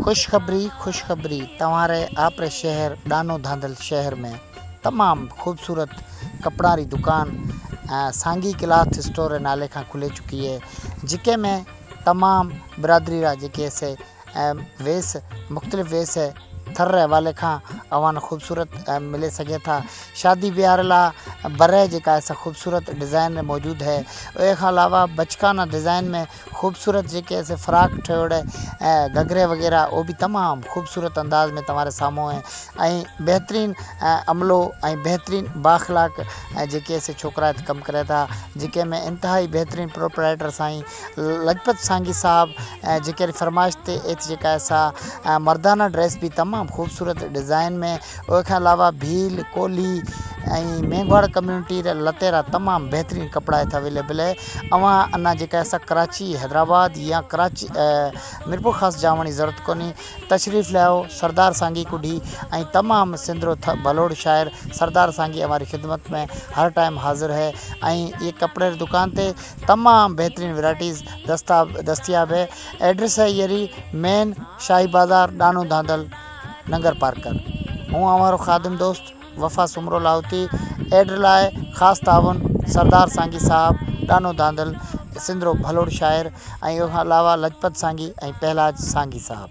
خوشخبري خوشخبري توهان ري آپري شهر ڏانو ڌانڌل شهر ۾ تمام خوبصورت ڪپڙان ري دڪان سانگي ڪلاٿ اسٽور ري نالي کان کلي چڪي هي جيڪي ۾ تمام برادري را جيڪي سي ويس مختلف ويس هي ٿر ري حوالي کان اوهان خوبصورت ملي سگهي ٿا شادي ويهار لا بره جيڪا سا خوبصورت ڊزائن موجود هي اوهي کان علاوه بچڪان ڊزائن ۾ خوبصورت جيڪي اسي فراڪ ٺهيوڙ ۽ گهگري وغيره او به تمام خوبصورت انداز ۾ توهان ري سامهون آهن ۽ بهترين عملو ۽ بهترين با اخلاق ۽ جيڪي اسي ڇوڪرا هت ڪم ڪري ٿا جيڪي ۾ انتهائي بهترين پروپرائيٽر سائين لجپت سانگي صاحب ۽ جيڪي فرمائش تي ايٿ جيڪا سا مردانه ڊريس به تمام خوبصورت ڊزائين ۾ ان کان علاوه ڀيل، ڪولھي ۽ مينگھواڙ ڪميونٽي را لٽيرا تمام بهترين ڪپڙا هت اويليبل اهي اوهان انا جيڪا اسا ڪراچي حيدرآباد يا ڪراچي ميرپورخاص جاوڻ جي ضرورت ڪونهي تشريف ليائو سردار سانگي ڪڍي ۽ تمام سندرو ٿر ڀلوڙ شاعر سردار سانگي اوهاري خدمت ۾ هر ٽائم حاضر هي ۽ اي ڪپڙي ري دڪان تي تمام بهترين ورائٽيز دستا دستياب هي ايڊريس هي ايري مين شاهي بازار ڏانو ڌانڌل ننگر پارڪر، هون اوهان رو خادم دوست وفا سومرو لاهوتي، ايڊ لاء خاص تعاون سردار سانگي صاحب، ڏانو ڌانڌل، سنڌ رو ڀلوڙ شاعر ۽ ان کان علاوه لجپت سانگي ۽ پهلاج سانگي صاحب.